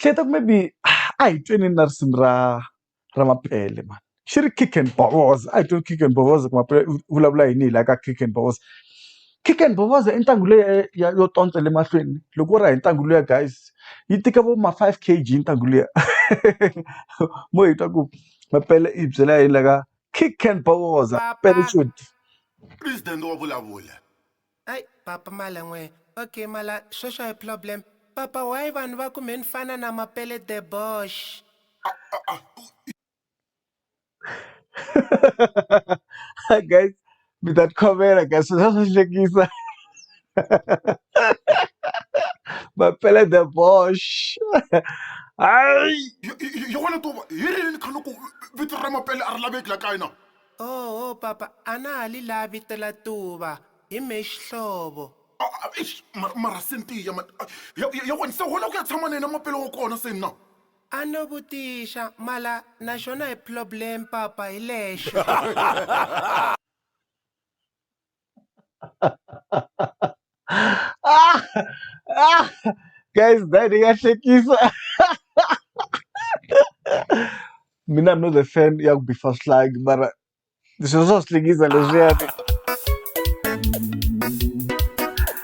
Hleketa ku maybe a hi tweni na risimu ra ra Mapele mhani xi ri Kick and Bowoza a hi tweni Kick and Bowoza ku Mapele u vulavula yini hi la ka Kick and Bowoza. Kick and Bowoza i ntlangu leyi ya yo tontsela emahlweni loko wo raha hi ntlangu luya guys yi tika vo ma five K_G ntlangu luya mo hi twa ku Mapele i hi byela yini la ka Kick and Bowoza . Ai papa mala n'we ok mala sweswo a hi problem papa why vanhu va ku me ni fana na mapele debosh. guys mi ta tikhomela guys swi swa swa hlekisa mapele the bosh hayi yona to va hi rini kha loko vito ra mapele a ri laveki la kaya na Oho papa a na ha li lavi tela tuva hi mhe xihlovo. Eish mara mara se ni tiya man ya ya ya wena se hola ku ya tshama na yena mapela wa kona se na. A no vutixa mala na xona hi ploblem papa hi lexo. ah! Ah! Guys, that ni nga hlekisa. Mina I'm not a fan ya ku bifa swihlangi mara sweswo swa swi hlekisa leswiyani.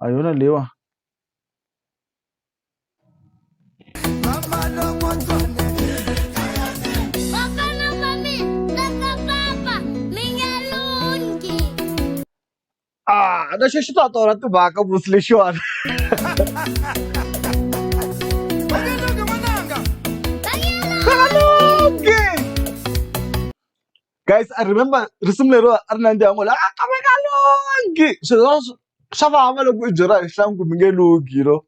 a hi yona leyiwa Ah, na xexi ta tona timhaka vusi lexiwani guys i remember risimu lero a ri nandziha ngo la ka mi nga lungi swilo swa swa vava loko i byela hi hlangu mi nge lungi you know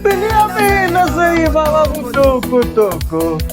Benjamin, nasaiva, vamos, toco, toco.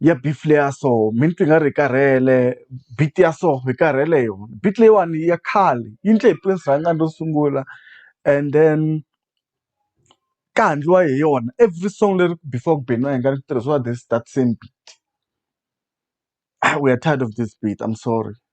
ya beef leya so mi ni twa i nga ri hi karhele beat ya so hi karhele hi yona beat leyiwani ya khale yi ndle hi Prince Rhangani ro sungula and then ka ha ndliwa hi yona every song leri before ku beniwa hi nga ri tirhisiwa this that same beat u ya tired of this beat I'm sorry.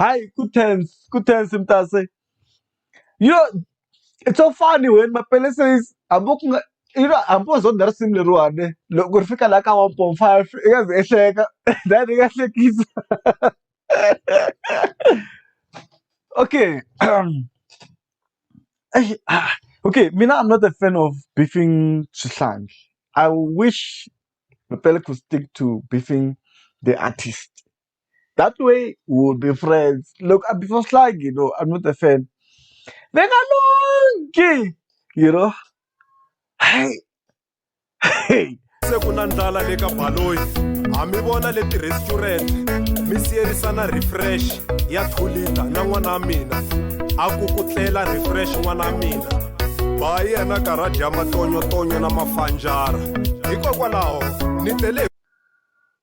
hayi ku tense ku tense mntase you know it's so funny when mapele says hambi ku nga you know hambi wo zonda risimu leriwani loko ri fika laha ka one point five i nga ze ehleka then i nga hlekisa okay Eish, ah, okay mina i'm not a fan of beefing swihlangi i wish mapele could stick to beefing the artist that way we will be friends loko a before slag you know I'm not a fan ni nga lungi you know hayi se ku na ndlala le ka baloyi ha mi vona le ti-restaurant mi siyerisana refresh ya two liter na n'wana wa mina a ku ku tlela refresh n'wana wa mina ba yena karha dya matonyotonyo na mafanjara hikokwalaho ni tele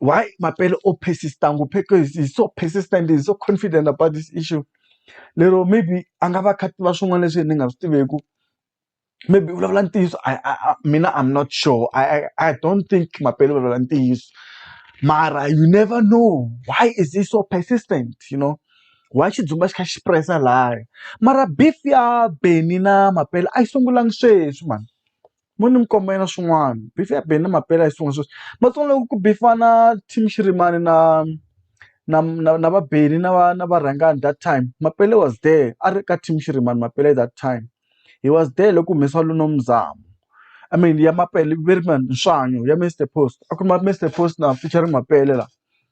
why mapele o persist-a ngopfu because he's so persistent he's so confident about this issue lero maybe a nga va a kha a tiva swin'wana leswi ni nga swi tiveku maybe u vulavula ntiyiso I I I mina I'm not sure I I I don't think mapele u vulavula ntiyiso mara you never know why is he so persistent you know why xidzumba xi kha xi press-a laya mara beef ya Benny na mapele a yi sungulanga sweswi mhani. mo ni mikomba yena swin'wana beef ya beni na mampela hi swin'wana sweswi matsongo loko ku bifana team xirimani na na na na va beni na va na varhangani that time mapele was there a ri ka team xirimani mapele that time he was there loko ku humesiwa Luno Mzamo I mean ya mapele Veerman Nxanyo ya Mister Post a ku ri Mister Post na featuring mapele la.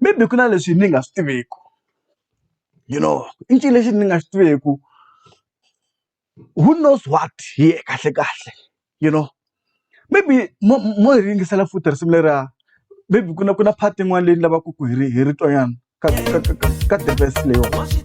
maybe ku na leswi ni nga swi tiveku you know i ncini lexi ni nga xi tiveku who knows what hi yena kahle kahle you know maybe mo mo hi yingisela futhi risimu leriya maybe ku na ku na part yin'wana leyi ni lavaka ku hi ri hi ri twa nyana ka ka ka ka ka the verse leyiwani.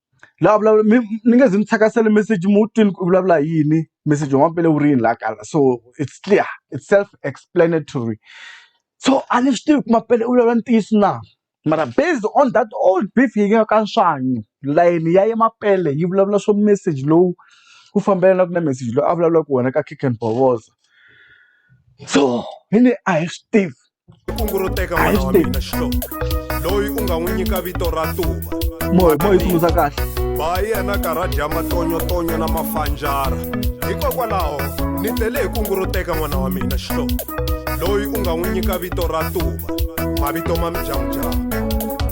la vulavula mi ni nge zi ni thyakasela meseji mi wu twini ku vulavula hi yini meseji wa mampela wu ri yini laha kaya so it's clear it's self explanatory so a ni swi tivi ku mampela u vulavula ntiyiso na mara based on that old beef yi nga ka swanyi layeni ya ye mampela yi vulavula swo meseji lowu wu fambelanaka na meseji lowu a vulavulaka wona ka Khenkhen Bovoza so hi ne a hi swi tivi. kunguruteka n'wana wa mina xihlovo loyi u nga n'wi nyika vito ra tuva moyo moyo tsundzuka kahle ba yena karati ya matonyotonyo na mafanjara hikokwalaho ni tlele hi kunguruteka n'wana wa mina xihlovo loyi u nga n'wi nyika vito ra tuva mavito ma midyamudyamu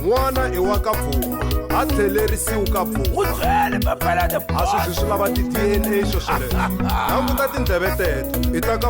n'wana i wa ka pfuma a tlhelerisiwi ka pfuma a sweswi swi lava ti-dna swo swoleswo languta tindleve teto i ta ka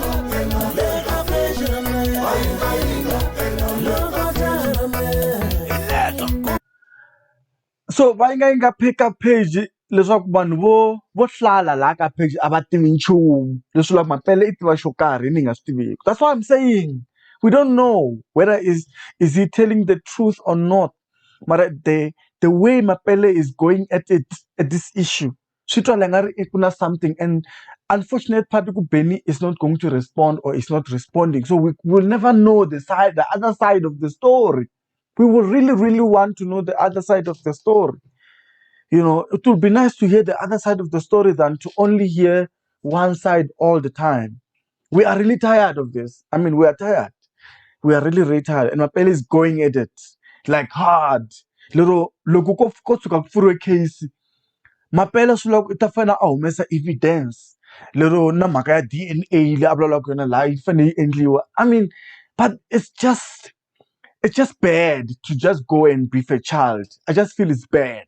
so va yi nga yi nga pheka page leswaku vanhu vo vo hlala laha ka page a va tivi nchumu leswi la mampela i tiva xo karhi ni nga swi tiviki that's why i'm saying we don't know whether is is he telling the truth or not mara the the way mapele is going at it at this issue swi twala i nga ri ku na something and unfortunate part i ku Bennie is not going to respond or is not responding so we will never know the side the other side of the story we will really really want to know the other side of the story you know it will be nice to hear the other side of the story than to only hear one side all the time we are really tired of this i mean we are tired we are really really tired and mapele is going at it like hard lero loko ko ko tshuka ku pfuriwe case mapele swi loko i ta fanele a humesa evidence lero na mhaka ya D_N_A leyi a vulavulaka yona laha yi fanele yi endliwa i mean but it's just it's just bad to just go and beat a child i just feel it's bad.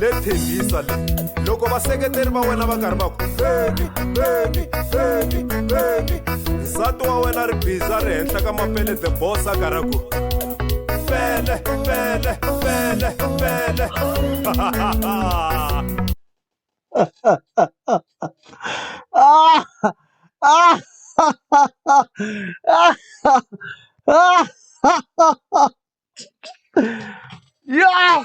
le thembisa le loko vaseketeri va wena va karhi va ku feni feni feni feni nsati wa wena ri biza ri henhla ka mapele the boss a karhi a ku fele fele fele fele ah, ah, ah, ah, ah, ah. Yeah!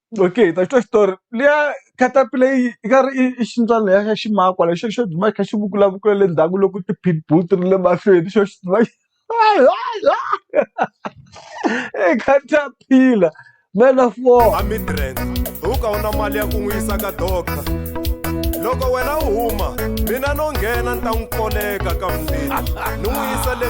Okay hi ta twa xitori liya caterpillar yi yi nga ri i ximbyana lexiya xa ximakwa lexi xo duma xi kha xi vukulavukula le ndzhaku loko ti pit bull ti ri le mahlweni xo xi duma xi i caterpillar man of war. A Midrand u ka u na mali ya ku n'wi yisa ka doctor loko wena u huma mina no nghena ni ta n'wi koleka ka mundeni ni n'wi yisa le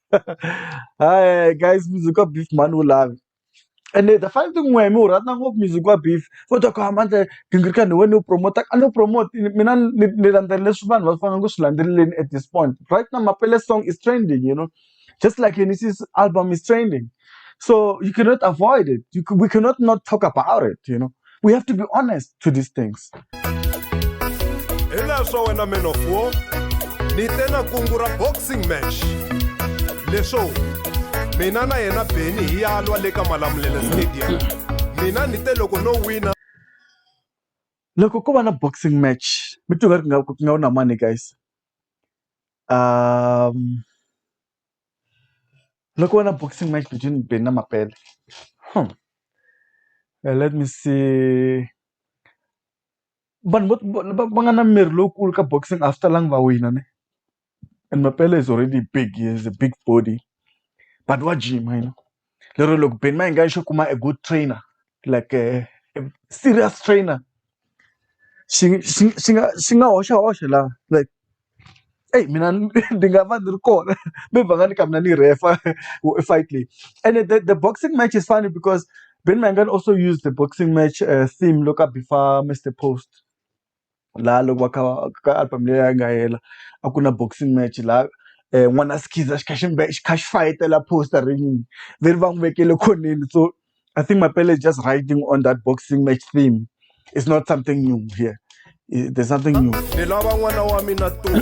Hi guys, music wa beef mani wu lavi. Ene the funny thing n'wehe mi wu rhandza ngopfu music wa beef. Vo ta ku Amandla gingirikani ni wena ni wu promote-a, a ni wu promote-i mina ni ni landzela leswi vanhu va faneleke ku swi landzeleleni at this point. Right now Mapele song is trending you know just like Yenisei's album is trending so you cannot avoid it, we cannot not talk about it you know. we have to be honest to these things hileswo wena man of war ni te na kungu ra boxing match leswo mina na yena beni hi ya lwa le ka malamulele stadium mina ni te loko no wina loko ko va na boxing match mi tiva ri nga ku nga na mani guys um Loko ko va na boxing match between Benni na Mapele let me see vanhu vo va va nga na miri lowukulu ka boxing a swi talangi va wina ne and Mapele is already big he is a big body but wa jima yena. lero loko beni ma hi nga yi xo kuma a good trainer like a serious trainer xi xi xi nga xi nga hoxa hoxa laha like eyi mina ni ni nga va ni ri kona mi va nga ni ka mina ni yi rhefa fight leyi ene the the boxing match is funny because Benny Mayengani also use the boxing match theme loko a beef-a Mister Post. laha loko va kha va ka album leyi a yi nga hela a ku na boxing match laha n'wana Skiza xi kha xi xi kha xi fayitela poster rinini leri va n'wi vekele khoneni so I think Mapele is just riding on that boxing match theme is not something new here there's nothing new. Ni lava n'wana wa mina Tuma.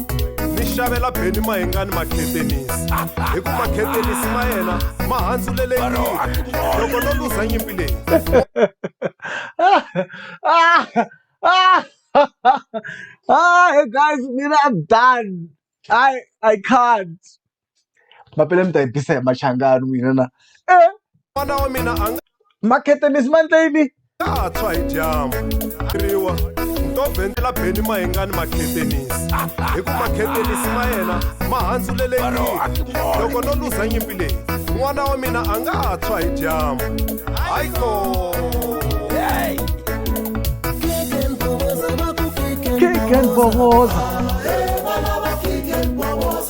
mi xavela beni mahengani makhetenisi hikuva makhetenisi ma yena ma handzulelekile loko no luza nyimpi leyi Hi guys, mina I'm done. I I can't. mapele mi ta yi tisa hi machangani n'wina na n'wana wa mina a nga makhetenisi mandleyini nga ha tshwa hi dyambu riwa ntovhentela beni mahingani makhetenisi hi ku makhetenisi ma yena ma handzulele nyimpi loko no luza nyimpi leyi n'wana wa mina a nga ha tshwa hi dyambu hayi ko kick and boboza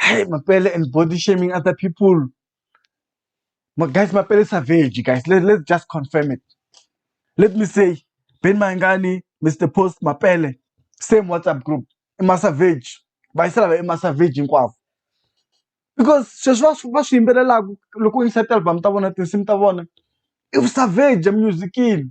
Hey, Mapele and body shaming other people. My guys, Mapele is savage, guys. Let, let's just confirm it. Let me say, Ben Mangani, Mr. Post, Mapele, same WhatsApp group. Ima savage. Baisala ima savage hinkwavo. Because sweswi va swi- va swi yimbelelaka loko u yingisa ti-album ta vona tinsimu ta vona i vu savage emunyuzikini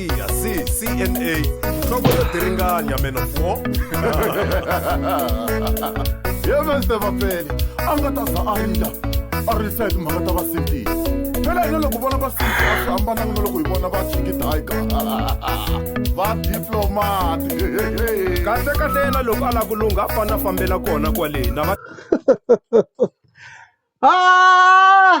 Iya, si, CNA, nhloko yo diringanya menopho. Ye Mr. Vapeli, a nga ta za a rila, a risa hi timhaka ta vasindisi. Phela hina loko vona vasindisi a swi hambananga na loko hi vona va Chiki Tiger. Va diplomat. Kahle kahle yena loko a la ku lungha a fana fambela kona kwale na va Ah!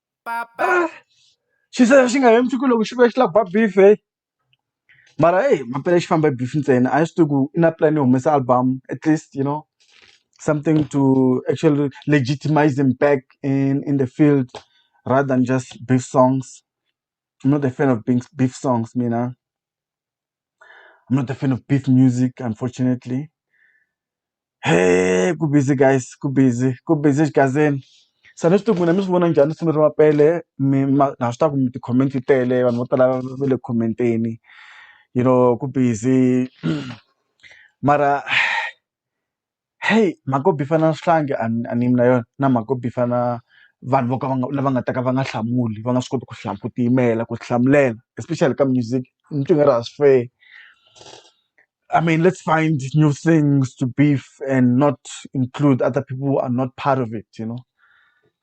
xi ze xi nga heli masiku loko xi vuya xi lava ku ba beef heyi mara heyi mampela xi famba hi beef ntsena a hi swi tivi ku i na plan yo humesa album at least you know something to actually legitimize him back in in the field rather than just beef songs I'm not a fan of beef songs mina. I'm not a fan of beef music, unfortunately. Hey, ku busy guys, ku busy, ku busy xigazeni. Se a ni swi tivi ku n'wina mi swi vona njhani risimu ra Mapele mi ma na swi tiva ku mi ti-comment ti tele vanhu vo tala va le ku comment-eni you know ku busy mara. heyi mhaka yo beef-a na swihlangi a ni a ni yimi na yona na mhaka yo beef-a na vanhu vo ka va nga lava nga ta ka va nga hlamuli va nga swi koti ku ku tiyimela ku tihlamulela especially ka music ni twa i nga ri a swi fair I mean let's find new things to beef and not include other people who are not part of it you know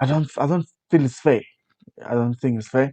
I don't I don't feel it's fair I don't think it's fair.